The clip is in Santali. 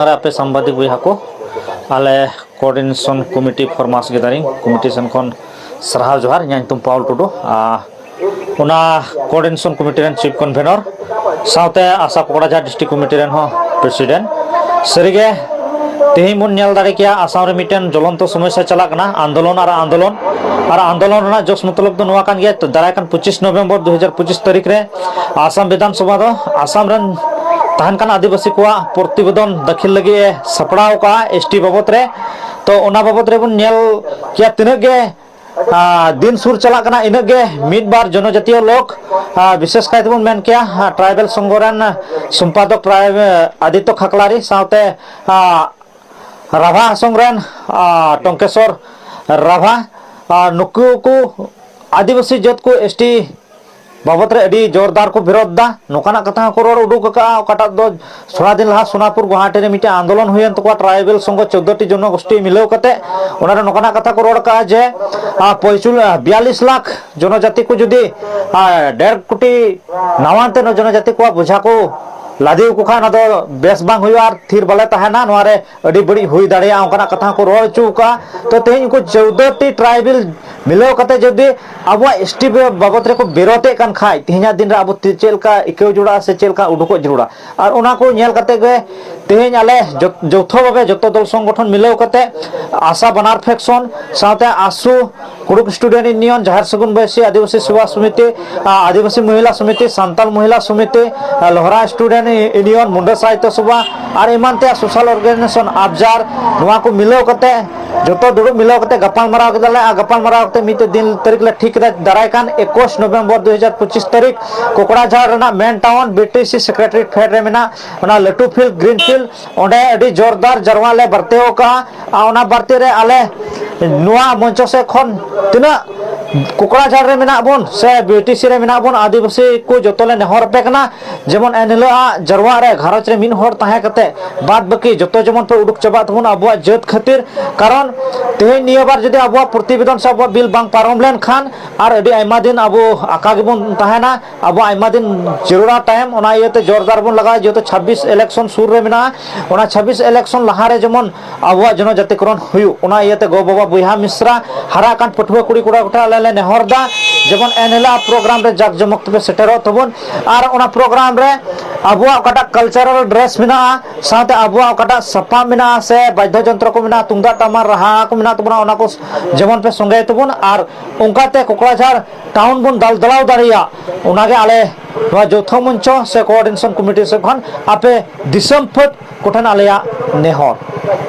ᱟᱨ ᱟᱯᱮ ᱥᱟᱢᱵᱟᱫᱤᱠ ᱵᱚᱭᱦᱟ ᱠᱚ ᱟᱞᱮ ᱠᱳᱚᱨᱰᱤᱱᱮᱥᱚᱱ ᱠᱚᱢᱤᱴᱤ ᱯᱷᱚᱨᱢᱟᱥ ᱠᱮᱫᱟᱞᱤᱧ ᱠᱚᱢᱤᱴᱤ ᱥᱮᱱ ᱠᱷᱚᱱ ᱥᱟᱨᱦᱟᱣ ᱡᱚᱦᱟᱨ ᱤᱧᱟᱹᱜ ᱧᱩᱛᱩᱢ ᱯᱟᱣᱩᱞ ᱴᱩᱰᱩ ᱟᱨ ᱚᱱᱟ ᱠᱳᱚᱨᱰᱤᱱᱮᱥᱚᱱ ᱠᱚᱢᱤᱴᱤ ᱨᱮᱱ ᱪᱤᱯ ᱠᱚᱱᱵᱷᱮᱱᱚᱨ ᱥᱟᱶᱛᱮ ᱟᱥᱟ ᱯᱚᱠᱚᱲᱟᱡᱷᱟᱨ ᱰᱤᱥᱴᱨᱤᱠ ᱠᱚᱢᱤᱴᱤ ᱨᱮᱱ ᱦᱚᱸ ᱯᱨᱮᱥᱤᱰᱮᱱᱴ ᱥᱟᱹᱨᱤᱜᱮ ᱛᱮᱦᱮᱧ ᱵᱚᱱ ᱧᱮᱞ ᱫᱟᱲᱮ ᱠᱮᱭᱟ ᱟᱥᱟᱢ ᱨᱮ ᱢᱤᱫᱴᱮᱱ ᱡᱚᱞᱚᱱᱛᱚ ᱥᱚᱢᱚᱥᱥᱟ ᱪᱟᱞᱟᱜ ᱠᱟᱱᱟ ᱟᱱᱫᱳᱞᱚᱱ ᱟᱨ ᱟᱱᱫᱳᱞᱚᱱ ᱟᱨ ᱟᱱᱫᱳᱞᱚᱱ ᱨᱮᱱᱟᱜ ᱡᱚᱥ ᱢᱚᱛᱞᱚᱵ ᱫᱚ ᱱᱚᱣᱟ ᱠᱟᱱ ᱜᱮᱭᱟ ᱫᱟᱨᱟᱭ ᱠᱟᱱ ᱯᱚᱸᱪᱤᱥ ᱱᱚᱵᱷᱮᱢᱵᱚᱨ ᱫᱩ ᱦᱟᱡᱟᱨ ᱯᱚᱸᱪᱤᱥ ᱛᱟᱹᱨᱤᱠᱷ ᱨᱮ ᱟᱥᱟᱢ ᱵᱤᱫᱷᱟᱱ ᱥᱚᱵᱷᱟ ᱫᱚ ᱟᱥᱟᱢ ᱨᱮᱱ ᱛᱟᱦᱮᱱ ᱠᱟᱱᱟ ᱟᱹᱫᱤᱵᱟᱹᱥᱤ ᱠᱚᱣᱟᱜ ᱯᱨᱚᱛᱤᱵᱮᱫᱚᱱ ᱫᱟᱹᱠᱷᱤᱞ ᱞᱟᱹᱜᱤᱫ ᱮ ᱥᱟᱯᱲᱟᱣ ᱟᱠᱟᱜᱼᱟ ᱮᱥ ᱴᱤ ᱵᱟᱵᱚᱛ ᱨᱮ ᱛᱚ ᱚᱱᱟ ᱵᱟᱵᱚᱛ ᱨᱮᱵᱚᱱ ᱧᱮᱞ ᱠᱮᱭᱟ ᱛᱤᱱᱟᱹᱜ ᱜᱮ ᱫᱤᱱ ᱥᱩᱨ ᱪᱟᱞᱟᱜ ᱠᱟᱱᱟ ᱤᱱᱟᱹᱜ ᱜᱮ ᱢᱤᱫ ᱵᱟᱨ ᱡᱚᱱᱚ ᱡᱟᱹᱛᱤᱭᱚ ᱞᱳᱠ ᱵᱤᱥᱮᱥ ᱠᱟᱭ ᱛᱮᱵᱚᱱ ᱢᱮᱱ ᱠᱮᱭᱟ ᱴᱨᱟᱭᱵᱮᱞ ᱥᱚᱝᱜᱷᱚ ᱨᱮᱱ ᱥᱚᱢᱯᱟᱫᱚᱠ ᱟᱫᱤᱛᱚ ᱠᱷᱟᱠᱞᱟᱨᱤ ᱥᱟᱶᱛᱮ ᱨᱟᱵᱷᱟ ᱦᱟᱥᱚᱝ ᱨᱮᱱ ᱴᱚᱝᱠᱮᱥᱚᱨ ᱨᱟᱵᱷᱟ ᱟᱨ ᱱᱩᱠᱩ ᱠᱚ ᱟᱹᱫᱤᱵᱟᱹᱥᱤ ᱡᱟᱹᱛ ᱠᱚ ᱮᱥ ᱴᱤ ᱵᱟᱵᱚᱛ ᱨᱮ ᱟᱹᱰᱤ ᱡᱳᱨᱫᱟᱨ ᱠᱚ ᱵᱤᱨᱳᱫᱷ ᱫᱟ ᱱᱚᱝᱠᱟᱱᱟᱜ ᱠᱟᱛᱷᱟ ᱦᱚᱸᱠᱚ ᱨᱚᱲ ᱩᱰᱩᱠ ᱟᱠᱟᱫᱼᱟ ᱚᱠᱟᱴᱟᱜ ᱫᱚ ᱛᱷᱚᱲᱟ ᱫᱤᱱ ᱞᱟᱦᱟ ᱥᱳᱱᱟᱯᱩᱨ ᱜᱩᱣᱟᱦᱟᱴᱤ ᱨᱮ ᱢᱤᱫᱴᱮᱱ ᱟᱱᱫᱳᱞᱚᱱ ᱦᱩᱭᱮᱱ ᱛᱟᱠᱚᱣᱟ ᱴᱨᱟᱭᱵᱮᱞ ᱥᱚᱝᱜᱷᱚ ᱪᱳᱫᱽᱫᱳᱴᱤ ᱡᱚᱱᱚᱜᱳᱥᱴᱤ ᱢᱤᱞᱟᱹᱣ ᱠᱟᱛᱮ ᱚᱱᱟᱨᱮ ᱱᱚᱝᱠᱟᱱᱟᱜ ᱠᱟᱛᱷᱟ ᱠᱚ ᱨᱚᱲ ᱟᱠᱟᱫᱼᱟ ᱡᱮ ᱯᱚᱸᱪᱩᱞ ᱵᱤᱭᱟᱞᱞᱤᱥ ᱞᱟᱠᱷ ᱡᱚᱱᱚᱡᱟᱛᱤ ᱠᱚ ᱡᱩᱫᱤ ᱰᱮᱲ ᱠᱳᱴᱤ ᱱᱟᱣᱟᱱᱛᱮ ᱡᱚᱱᱚᱡᱟᱛᱤ ᱠᱚᱣᱟᱜ ᱵᱳᱡᱷᱟ ᱠᱚ ᱞᱟᱫᱮ ᱟᱠᱚ ᱠᱷᱟᱱ ᱚᱱᱟ ᱫᱚ ᱵᱮᱥ ᱵᱟᱝ ᱦᱩᱭᱩᱜᱼᱟ ᱟᱨ ᱛᱷᱤᱨ ᱵᱟᱞᱮ ᱛᱟᱦᱮᱱᱟ ᱱᱚᱣᱟᱨᱮ ᱟᱹᱰᱤ ᱵᱟᱹᱲᱤᱡ ᱦᱩᱭ ᱫᱟᱲᱮᱭᱟᱜᱼᱟ ᱚᱱᱠᱟᱱᱟᱜ ᱠᱟᱛᱷᱟ ᱦᱚᱸᱠᱚ ᱨᱚᱲ ᱦᱚᱪᱚ ᱟᱠᱟᱫᱼᱟ ᱛᱚ ᱛᱮᱦᱮᱧ ᱩᱱᱠᱩ ᱪᱳᱣᱫᱚ ᱴᱤ ᱴᱨᱟᱭᱵᱮᱞ ᱢᱤᱞᱟᱹᱣ ᱠᱟᱛᱮ ᱡᱩᱫᱤ ᱟᱵᱚᱣᱟᱜ ᱮᱥ ᱴᱤ ᱵᱟᱵᱚᱛ ᱨᱮᱠᱚ ᱵᱤᱨᱳᱫᱮᱫ ᱠᱟᱱ ᱠᱷᱟᱡ ᱛᱮᱦᱮᱧᱟᱜ ᱫᱤᱱ ᱨᱮ ᱟᱵᱚ ᱪᱮᱫ ᱞᱮᱠᱟ ᱟᱹᱭᱠᱟᱹᱣ ᱡᱚᱲᱟᱜᱼᱟ ᱥᱮ ᱪᱮᱫ ᱞᱮᱠᱟ ᱩᱰᱩᱠᱚᱜ ᱡᱟᱹᱨᱩᱲᱟ ᱟᱨ ᱚᱱᱟ ᱠᱚ ᱧᱮᱞ ᱠᱟᱛᱮ ᱜᱮ ᱛᱮᱦᱮᱧ ᱟᱞᱮ ᱡᱚᱛᱚ ᱵᱷᱟᱵᱮ ᱡᱚᱛᱚ ᱫᱚᱞ ᱥᱚᱝᱜᱚᱴᱷᱚᱱ ᱢᱤᱞᱟᱹᱣ ᱠᱟᱛᱮ ᱟᱥᱟ ᱵᱟᱱᱟᱨ ᱯᱷᱮᱠᱥᱚᱱ ᱥᱟᱶᱛᱮ ᱟᱥᱩ ᱠᱩᱲᱩᱠ ᱥᱴᱩᱰᱮᱱᱴ ᱤᱭᱩᱱᱤᱭᱚᱱ ᱡᱟᱦᱮᱨ ᱥᱟᱹᱜᱩᱱ ᱵᱟᱹᱭᱥᱤ ᱟᱹᱫᱤᱵᱟᱹᱥᱤ ᱥᱮᱵᱟ ᱥᱚᱢᱤᱛᱤ ᱟᱹᱫᱤᱵᱟᱹᱥᱤ ᱢᱚᱦᱤᱞᱟ ᱥᱚᱢᱤᱛᱤ ᱥᱟᱱᱛᱟᱞ ᱢᱚᱦᱤᱞᱟ ᱥᱚᱢᱤᱛᱤ ᱞᱚᱦᱨᱟ ᱥᱴᱩᱰᱮᱱᱴ ᱤᱭᱩᱱᱤᱭᱚᱱ ᱢᱩᱱᱰᱟ ᱥᱟᱦᱤᱛᱭᱚ ᱥᱚᱵᱷᱟ ᱟᱨ ᱮᱢᱟᱱ ᱛᱮᱭᱟᱜ ᱥᱳᱥᱟᱞ ᱚᱨᱜᱟᱱᱟᱭᱡᱮᱥᱚᱱ ᱟᱵᱡᱟᱨ ᱱᱚᱣᱟ ᱠᱚ ᱢᱤᱞᱟᱹᱣ ᱠᱟᱛᱮ ᱡᱚᱛᱚ ᱫᱩᱲᱩᱵ ᱢᱤᱞᱟᱹᱣ ᱠᱟᱛᱮ ᱜᱟᱯᱟᱞ ᱢᱟᱨᱟᱣ ᱠᱮᱫᱟᱞᱮ ᱟᱨ ᱜᱟᱯᱟᱞ ᱢᱟᱨᱟᱣ ᱠᱟᱛᱮ ᱢᱤᱫᱴᱮᱡ ᱫᱤᱱ ᱛᱟᱹᱨᱤᱠᱷ ᱞᱮ ᱴᱷᱤᱠ ᱠᱮᱫᱟ ᱫᱟᱨᱟᱭ ᱠᱟᱱ ᱮᱠᱩᱥ ᱱᱚᱵᱷᱮᱢᱵᱚᱨ ᱫᱩ ᱦᱟᱡᱟᱨ ᱯᱚᱸᱪᱤᱥ ᱛᱟᱹᱨᱤᱠᱷ ᱠᱚᱠᱲᱟᱡᱷᱟᱲ ᱨᱮᱱᱟᱜ ᱢᱮᱱ ᱴᱟᱣᱩᱱ ᱵᱤᱴᱤᱥᱤ ᱥᱮᱠᱨᱮᱴᱟᱨᱤᱭᱮᱴ ᱯᱷᱮᱰ ᱨᱮ ᱢᱮᱱᱟᱜ ᱚᱱᱟ ᱞᱟᱹᱴᱩ ᱯᱷᱤᱞᱰ ᱜᱨᱤᱱ ᱯᱷᱤᱞᱰ ᱚᱸᱰᱮ ᱟᱹᱰᱤ ᱡᱳᱨᱫᱟᱨ ᱡᱟᱨᱣᱟ ᱞᱮ ᱵᱟᱨᱛᱮ ᱟᱠᱟᱜᱼᱟ ᱟᱨ ᱚᱱᱟ ᱵᱟᱨᱛᱮ ᱨᱮ ᱟᱞᱮ ᱱᱚᱣᱟ ᱢᱚᱧᱪᱚ ᱥᱮᱫ ᱠᱷᱚᱱ ᱛᱤᱱᱟᱹᱜ ᱠᱚᱠᱲᱟᱡᱷᱟᱲ ᱨᱮ ᱢᱮᱱᱟᱜ ᱵᱚᱱ ᱥᱮ ᱵᱤᱴᱤᱥᱤ ᱨᱮ ᱢᱮᱱᱟᱜ ᱵᱚᱱ ᱟᱹᱫᱤᱵᱟᱹᱥᱤ ᱠᱚ ᱡᱚᱛᱚ ᱞᱮ ᱱᱮᱦᱚᱨ ᱟᱯᱮ ᱠᱟᱱᱟ ᱡᱮᱢᱚᱱ ᱮᱱ ᱦᱤᱞᱳᱜ ᱟᱜ ᱡᱟᱨᱣᱟ ᱨᱮ ᱜᱷᱟᱨᱚᱸᱡᱽ ᱨᱮ ᱢᱤᱫ ᱦᱚᱲ ᱛᱟᱦᱮᱸ ᱠᱟᱛᱮ ᱵᱟᱫ ᱵᱟᱹᱠᱤ ᱡᱚᱛᱚ ᱡᱮᱢᱚᱱ ᱯᱮ ᱩᱰᱩᱠ ᱪᱟᱵᱟᱜ ᱛᱟᱵᱚᱱ ᱟᱵᱚᱣᱟᱜ ᱡᱟᱹᱛ ᱠᱷᱟᱹᱛᱤᱨ ᱠᱟᱨᱚᱱ ᱛᱮᱦᱮᱧ ᱱᱤᱭᱟᱹ ᱵᱟᱨ ᱡᱩᱫᱤ ᱟᱵᱚᱣᱟᱜ ᱯᱨᱚᱛᱤᱵᱮᱫᱚᱱ ᱥᱮ ᱟᱵᱚᱣᱟᱜ ᱵᱤᱞ ᱵᱟᱝ ᱯᱟᱨᱚᱢ ᱞᱮᱱᱠᱷᱟᱱ ᱟᱨ ᱟᱹᱰᱤ ᱟᱭᱢᱟ ᱫᱤᱱ ᱟᱵᱚ ᱟᱠᱟ ᱜᱮᱵᱚᱱ ᱛᱟᱦᱮᱱᱟ ᱟᱵᱚ ᱟᱭᱢᱟ ᱫᱤᱱ ᱡᱟᱹᱨᱩᱲᱟ ᱴᱟᱭᱤᱢ ᱚᱱᱟ ᱤᱭᱟᱹᱛᱮ ᱡᱳᱨᱫᱟᱨ ᱵᱚᱱ ᱞᱟᱜᱟᱣᱟ ᱡᱮᱦᱮᱛᱩ ᱪᱷᱟᱵᱵᱤᱥ ᱤᱞᱮᱠᱥᱚᱱ ᱥᱩᱨ ᱨᱮ ᱢᱮᱱᱟᱜᱼᱟ ᱚᱱᱟ ᱪᱷᱟᱵᱵᱤᱥ ᱤᱞᱮᱠᱥᱚᱱ ᱞᱟᱦᱟᱨᱮ ᱡᱮᱢᱚᱱ ᱟᱵᱚᱣᱟᱜ ᱡᱚᱱᱚ ᱡᱟᱛᱤᱠᱨᱚᱱ ᱦᱩᱭᱩᱜ ᱚᱱᱟ ᱤᱭᱟᱹᱛᱮ ᱜᱚ ᱵᱟᱵᱟ ᱵᱚᱭᱦᱟ ᱢᱤᱥᱨᱟ ᱦᱟᱨᱟᱜ ᱠᱟᱱ ᱯᱟᱹᱴᱷᱩᱣᱟᱹ ᱠᱩᱲᱤ ᱠᱚᱲᱟ ᱠᱚᱴᱷᱮᱱ ᱟᱞᱮ ᱞᱮ ᱱᱮᱦᱚᱨ ᱫᱟ ᱡᱮᱢᱚᱱ ᱮᱱᱦᱤᱞᱳᱜ ᱯᱨᱳᱜᱨᱟᱢ ᱨᱮ ᱡᱟᱠ ᱡᱚᱢᱚᱠ ᱛᱮᱯᱮ ᱥᱮᱴᱮᱨᱚᱜ ᱛᱟᱵᱚᱱ ᱟᱨ ᱚᱱᱟ ᱯᱨᱳᱜᱨᱟᱢ ᱨᱮ ᱟᱵᱚᱣᱟᱜ ᱚᱠᱟᱴᱟᱜ ᱠᱟᱞᱪᱟᱨᱟᱞ ᱰᱨᱮᱥ ᱢᱮᱱᱟᱜᱼᱟ ᱥᱟᱶᱛᱮ ᱟᱵᱚᱣᱟᱜ ᱚᱠᱟᱴᱟᱜ ᱥᱟᱯᱟᱵ ᱢᱮᱱᱟᱜᱼᱟ ᱥᱮ ᱵᱟᱫᱽᱫᱷᱚ ᱡᱚᱱᱛᱨᱚ ᱠᱚ ᱢᱮᱱᱟᱜᱼᱟ ᱛᱩᱢᱫᱟᱜ ᱴᱟᱢᱟᱠ ᱨᱟᱦᱟ ᱠᱚ ᱢᱮᱱᱟᱜ ᱛᱟᱵᱚᱱᱟ ᱚᱱᱟ ᱠᱚ ᱡᱮᱢᱚᱱ ᱯᱮ ᱥᱚᱸᱜᱮᱭ ᱛᱟᱵᱚᱱ ᱟᱨ ᱚᱱᱠᱟᱛᱮ ᱠᱚᱠᱲᱟᱡᱷᱟᱲ ᱴᱟᱣᱩᱱ ᱵᱚᱱ ᱫᱟᱞ ᱫᱟᱞᱟᱣ ᱫᱟᱲᱮᱭᱟᱜ ᱚᱱᱟᱜᱮ ᱟᱞᱮ ᱱᱚᱣᱟ ᱡᱳᱛᱷᱚ ᱢᱚᱧᱪᱚ ᱥᱮ ᱠᱳᱚᱨᱰᱤᱱᱮᱥᱚᱱ ᱠᱚᱢᱤᱴᱤ ᱥᱮᱫ ᱠᱷᱚᱱ ᱟᱯᱮ ᱫᱤᱥᱚᱢ ᱯᱷᱟᱹᱫ ᱠᱚᱴᱷᱮᱱ ᱟᱞᱮᱭᱟᱜ ᱱᱮᱦᱚᱨ